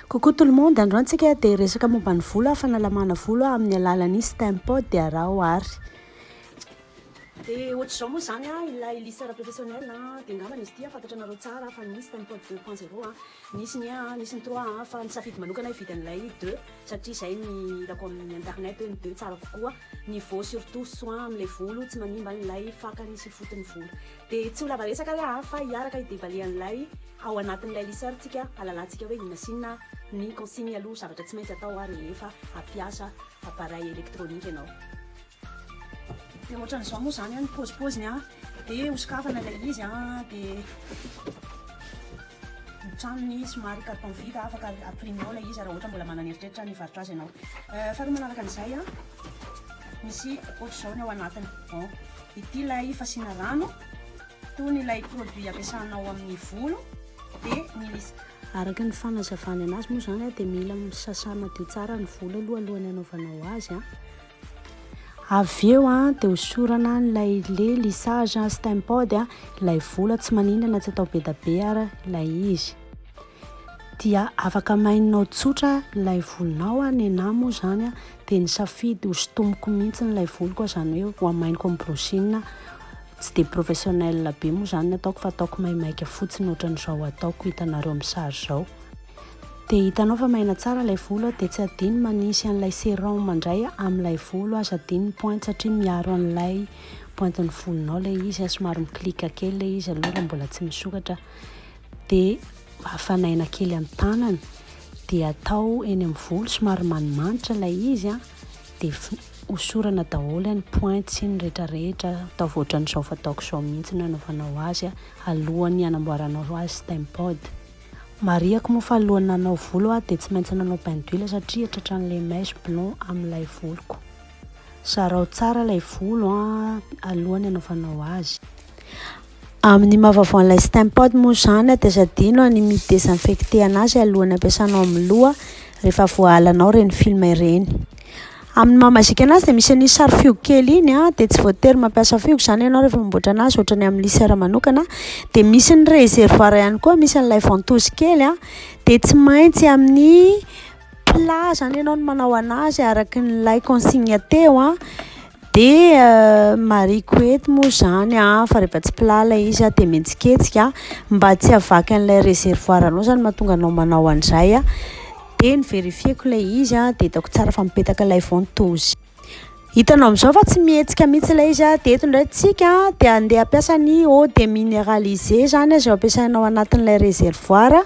Coucou tout le monde, androany antsika dia resaka momba ny volo, fanalamana volo amin'ny alalan'ny Stempod dia araho ary. Dia ohatr'izao moa izany an, ilay lisseur professionnel an, dia angambany izy ity an, fantatranareo tsara fa ny Stempod deux point zero an, nisy ny un an, nisy ny trois an, fa nisafidy manokana aho hividy an'ilay deux satria izay ny hitako amin'ny internet hoe ny deux tsara kokoa niveau surtout soin amin'ilay volo, tsy manimba ilay fakany sy foton'ny volo. Dia tsy ho lava resaka re aa fa hiaraka hi-deballer an'ilay ao anatin'ilay liseur tsika halalantsika hoe inona sy inona ny consignes aloha zavatra tsy maintsy atao ary rehefa hampiasa appareil électronique ianao. Dia ohatran'izao moa izany an ny paozipoziny an, dia hosokafana ilay izy an, dia ny tranony somary carton vide afaka ampiriminao ilay izy raha ohatra mbola manana eritreritra nivarotra azy ianao. Faharoa manaraka an'izay an, misy ohatr'izao ny ao anatiny. Ity ilay fasiana rano tony ilay produit ampiasana ao amin'ny volo dia ny liste. Araka ny fanazavany anazy moa izany dia mila sasana madio tsara ny volo aloha alohan'ny anaovanao azy. Avy eo dia hosorana ilay lait lissage steampod ilay volo tsy maninona na tsy atao be dia be ary ilay izy. Dia afaka maininao tsotra ilay volonao an, nenahy moa izany an, dia nisafidy ho sintomiko mihitsy ilay voloko an, izany hoe ho amainiko amin'ny brushing, tsy dia professionnel be moa izany ny ataoko fa ataoko maimaika fotsiny ohatrany izao ataoko hitanareo amin'ny sary izao. Dia hitanao fa maina tsara ilay volo an, dia tsy adino manisy an'ilay serum indray amin'ilay volo an, sady iny ny pointe satria miaro an'ilay pointin'ny volonao ilay izy an, somary mi-click kely ilay izy aloha raha mbola tsy misokatra. Dia afanaina kely ny tanana dia atao eny amin'ny volo somary manimanitra ilay izy an, dia hosorana daholo any points iny rehetra rehetra, ataovy ohatran'izao fataoko izao mihitsy no anaovanao azy an, alohan'ny hanamboaranao azy steampod. Marihako moa fa alohan'ny nanao volo aho dia tsy maintsy nanao bain d'huile satria tratran'ilay mèche blond amin'ilay voloko. Zarao tsara ilay volo an, alohan'ny anaovanao azy. Amin'ny maha vaovao an'ilay Stempod moa izany dia aza adino ny mi desinfecter anazy alohan'ny ampiasanao amin'ny loha rehefa voahalanao ireny film ireny. Amin'ny maha mazika anazy dia misy an'iny sary fihogo kely iny an, dia tsy voatery mampiasa fihogo izany ianao rehefa mamboatra anazy ohatran'ny amin'ny lisera manokana, dia misy ny reservoir ihany koa misy an'ilay ventouse kely an, dia tsy maintsy amin'ny plat izany ianao no manao an'azy araka ilay consigne teo an, dia marihiko eto moa izany an fa rehefa tsy plat ilay izy an dia mihetsiketsika an, mba tsy havaky an'ilay reservoir anao izany no mahatonga anao manao an'izay an, dia ny verifieko ilay izy an dia hitako tsara fa mipetaka ilay ventouse, hitanao amin'izao fa tsy mihetsika mihintsy ilay izy an, dia eto indray isika dia handeha hampiasa ny eau de minéralisé izany izay ampiasainao anatin'ilay reservoir.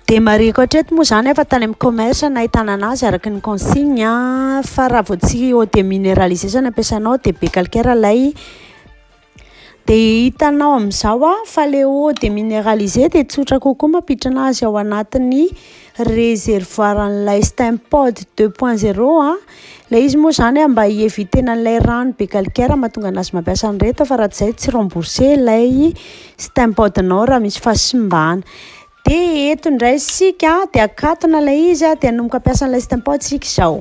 Dia marihiko hatreto moa izany fa tany amin'ny commerce no ahitana anazy araka ny consigne an, fa raha vao tsy eau de mineraliser izao no ampiasainao dia be calcaire ilay, dia hitanao amin'izao an fa ilay eau de mineraliser dia tsotra kokoa mampiditra anazy ao anatin'ny reservoir an'ilay stem pod deux point zero an, Ilay izy moa zany mba hi-eviter-na an'ilay rano be calcaire mahatonga an'azy mampiasa an'ireto fa raha tsy izay tsy rembourser ilay stempadinao raha misy fahasimbana. Dia eto indray isika dia akatona ilay izy dia hanomboka hampiasa an'ilay stempad isika izao.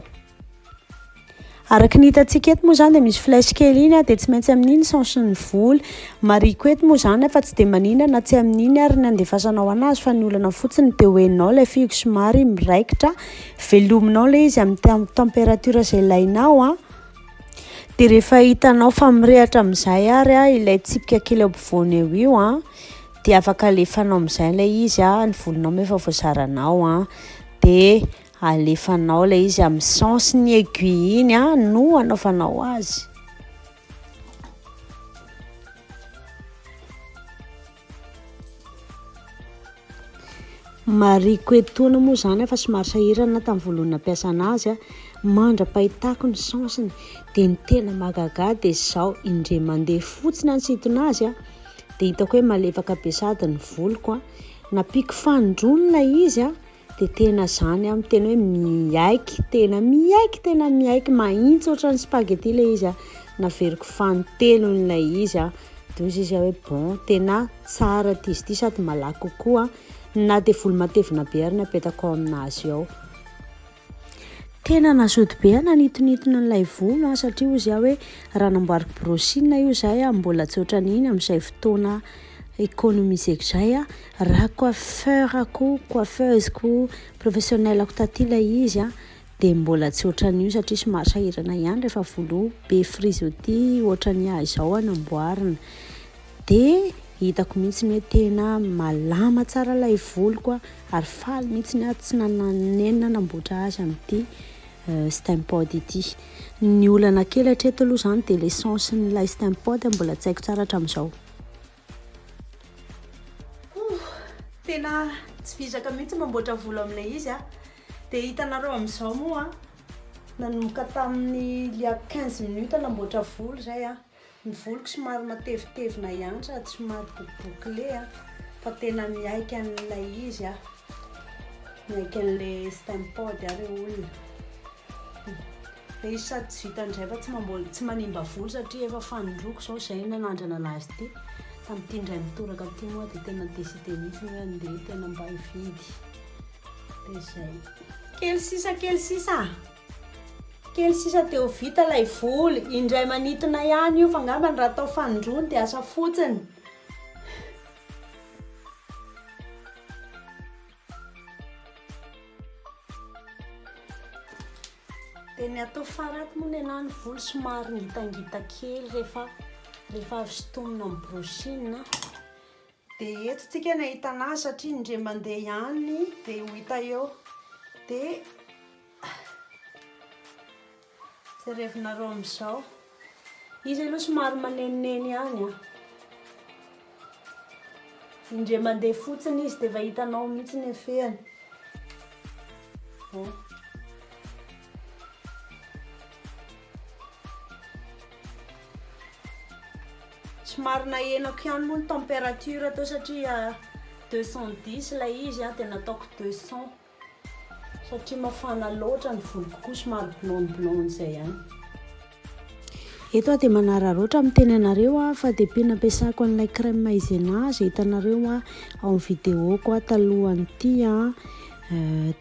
Araka ny hitantsika eto moa izany dia misy flèche kely iny dia tsy maintsy amin'iny sens ny vola. Marihiko eto moa izany fa tsy dia manina na tsy amin'iny ary ny handefasanao an'azy fa ny olana fotsiny dia ho henonao ilay fihogo somary miraikitra. Velominao ilay izy amin'ny température izay ilainao an. Dia rehefa hitanao fa mirehatra amin'izay ary an ilay tsipika kely eo ampovoany eo io an, dia afaka alefanao amin'izay ilay izy an, ny volonao moa efa voazaranao an, dia alefanao ilay izy amin'ny sens ny aiguille iny an no anaovanao azy. Marihiko etoana moa izany fa somary sahirana tamin'ny voalohany nampiasana azy, mandra-pahitako ny sens-ny dia ny tena mahagaga dia izao, indray mandeha fotsiny aho nisintona azy dia hitako hoe malefaka be sady ny voloko, nampiako fanindroany ilay izy. Dia tena zany aho miteny hoe miaiky tena miaiky tena miaiky mahitsy ohatran'ny spaghetti ilay izy aho naveriko fanintelony ilay izy aho dia hoy izy hoe bon tena tsara ity izy ity sady malaky kokoa na dia voly matevina be ary ny apetako ao aminazy ao tena nasody be aho nanitonitony an'ilay volo an satria hoy izy aho hoe raha namboariko brosina io zay aho mbola tsy ohatran'iny amin'izay fotoana économiseko zay aho Raha coiffeur-ko, coiffeuse-ko, professionnel-ko taty ilay izy an, dia mbola tsy ohatran'io satria somary sahirana ihany rehefa volo be frizz oty ohatran'ny ahy izao an amboarina. Dia hitako mihitsy hoe tena malama tsara ilay voloko an, ary faly mihitsy aho tsy nanenina nanamboatra azy amin'ity Stempod ity. Ny olana kely hatreto aloha izany dia ilay sens-n'ilay Stempod mbola tsy haiko tsara hatramin'izao. Tena tsy vizaka mihitsy mamboatra volo amin'ilay izy a. Dia hitanareo amin'izao moa a, nanomboka tamin'ny il y a quinze minutes namboatra volo izay a, ny voloko somary matevitevina ihany sady somary bokobokile a, fa tena miaiky an'ilay izy a, miaiky an'ilay Stem-Pad a ireo olona. Dia izy sady tsy vita indray fa tsy mamboly, tsy manimba voly satria efa fanondroko izao izay nanandrana an'azy ity. Tamin'ity indray mitoraka ity moa dia tena décidé mihitsy ny hoe handeha tena mba hividy. Dia izay. Kely sisa, kely sisa. Kely sisa dia ho vita ilay voly. Indray manintona ihany io fa angambany raha atao fanondroany dia asa fotsiny. Dia ny atao faraty moa ny anahy ny volo somary ngitangita kely rehefa rehefa avy sintomina amin'ny brushing a. Dia eto tsika ny ahitana azy satria indray mandeha ihany dia ho hita eo. Dia Jerevinareo amin'izao. Izy aloha somary manenoneno ihany an. Indray mandeha fotsiny izy dia efa hitanao mihitsy ny efehany. Oh. somary nahenako ihany moa ny température teo satria 210 ah, ilay izy ah, dia nataoko 200 Satria mafana loatra ny voloko koa somary blanc blanc zay ihany. Eto aho dia manararaotra miteny anareo aho fa dia pin ampiasako an'ilay crème maizena izay hitanareo aho ao amin'ny vidéo-ko aho talohan'ity an,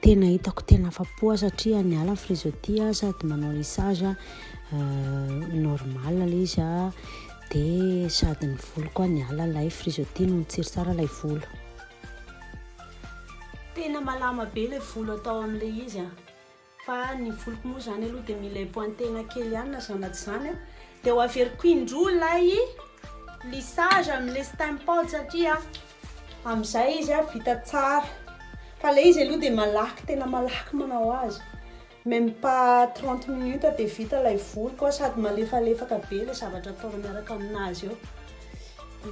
tena hitako tena afa-po aho satria niala ny frizôty aho sady manao lissage normal ilay izy an, dia sady ny volo koa niala ilay frizôty noho ny tsiry tsara ilay volo. Tena malama be ilay volo atao amin'ilay izy an! Fa ny voloko moa izany aloha dia mila hipoahin-tegna kely ihany na izany na tsy izany an! Dia ho averiko indroa ilay lissage amin'ilay stem pad satria amin'izay izy an vita tsara. Fa ilay izy aloha dia malaky tena malaky manao azy. Même pas trente minutes dia vita ilay voloko a! Sady malefalefaka be ilay zavatra ataonao miaraka amin'azy eo.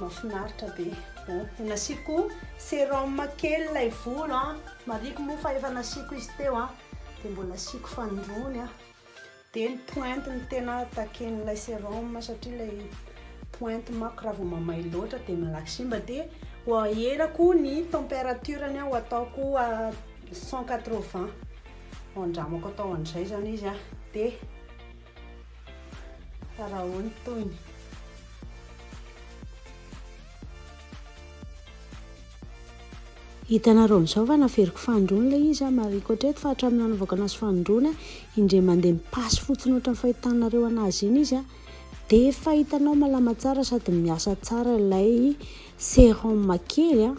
Mahafinaritra be. Ohh, nasiako sérum kely ilay volo a! Marihiko moa fa efa nasiako izy teo a! Dia mbola asiako fandroany a! Dia ny pointe no tena takian'ilay sérum satria ilay pointe manko raha vao mamay loatra dia malaky simba dia ho aherako ny température-ny aho, ho ataoko à cent quatre-vingts. Andramako atao an'izay izany izy an, dia araho ny tohiny. Hitanareo amin'izao fa naveriko fanindroany ilay izy an, marihiko hatreto fa hatramin'ny nanaovako anazy fanindroany an, indray mandeha mipasy fotsiny ohatran'ny fahitanareo anazy iny izy an. De efa hitanao malama tsara sady miasa tsara ilay serum kely a,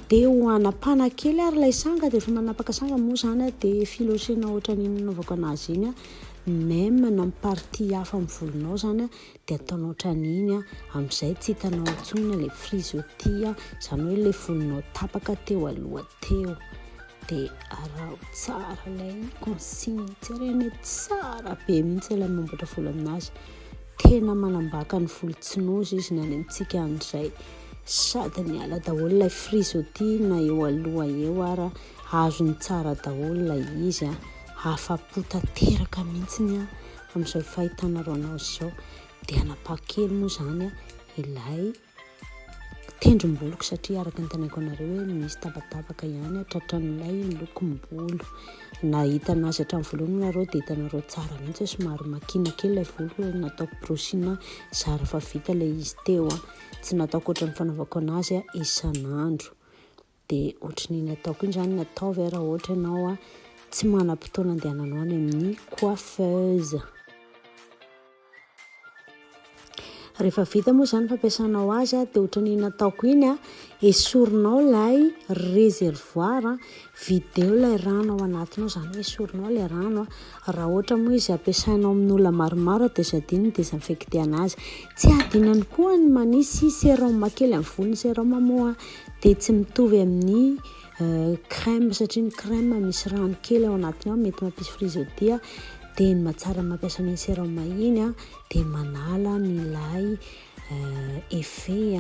de ho hanapana kely ary ilay sanga de efa manapaka sanga moa zany a de filosena ohatran'iny nanaovako anazy iny a, même na amin'ny partie hafa amin'ny volonao zany a de ataonao ohatran'iny a, amin'izay tsy hitanao intsony ilay frizôty a, zany hoe ilay volonao tapaka teo aloha teo. dia araho tsara ilay consigne jerena tsara be mihitsy ilay mamboatra volo aminazy tena manambaka ny volo tsy nozy izy ny any amintsika an'izay sady ny ala daholo ilay frizoty na eo aloha eo ara azony tsara daholo ilay izy a hafa-po tanteraka mihitsy ny a amin'izao fahitana roanao izao dia anapakely moa izany a ilay Tendromboliko satria araka ny teneniko anareo hoe misy tabatavaka ihany a tratran'ilay lokom-bolo. Na hitanao azy hatramin'ny voalohany moa nareo dia hitanareo tsara mihitsy hoe somary makina kely ilay voloko hoe nataoko brosina zara fa vita ilay izy teo a. Tsy nataoko ohatran'ny fanaovako anazy a isan'andro. Dia ohatran'ny nataoko iny izany no ataovy a raha ohatra ianao tsy manam-potoana andehananao any amin'ny coiffeuse. Rehefa vita moa izany fampiasanao azy a, dia ohatran'ny nataoko iny a, esorinao ilay réservoir a, vidéo ilay rano ao anatiny ao, izany hoe esorinao ilay rano a, raha ohatra moa izy ampiasainao amin'olona maromaro a dia tsy adino ny désinfecter an'azy, tsy adino ihany koa ny manisy sérum kely amin'ny volony, sérum moa. dia tsy mitovy amin'ny crème satria ny crème misy rano kely ao anatiny ao mety mampisy frizodie dia ny mahatsara mampiasa ny sérum iny dia manala an'ilay effet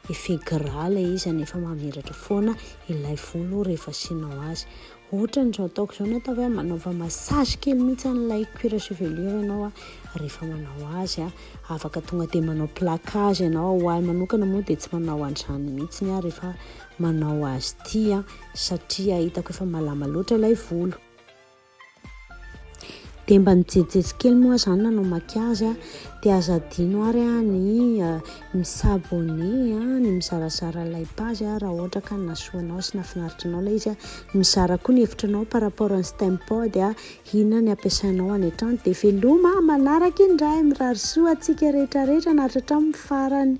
effet gras ilay izy izany efa mamiratra foana ilay volo rehefa asianao azy Otrany zao ataoko zao natao hoe manaova massage kely mihitsy an'ilay cuir chevelure ianao a, rehefa manao azy a, afaka tonga dia manao plaquage ianao, ho ahy manokana moa dia tsy manao an'izany mihitsy aho rehefa manao azy ity a, satria hitako efa malama loatra ilay volo. Dia mba nijejijejy kely moa aho zany nanao maquillage a, dia aza adino ary a ny mi s'abonner a, ny mizarazara ilay page a raha ohatra ka nahasoa anao sy nahafinaritra anao ilay izy a, mizara koa ny hevitra anao par rapport an'i Stempod a, inona ny ampiasainao any an-trano, dia veloma a, manaraka indray, mirary soa antsika rehetra rehetra nahatratra amin'ny farany.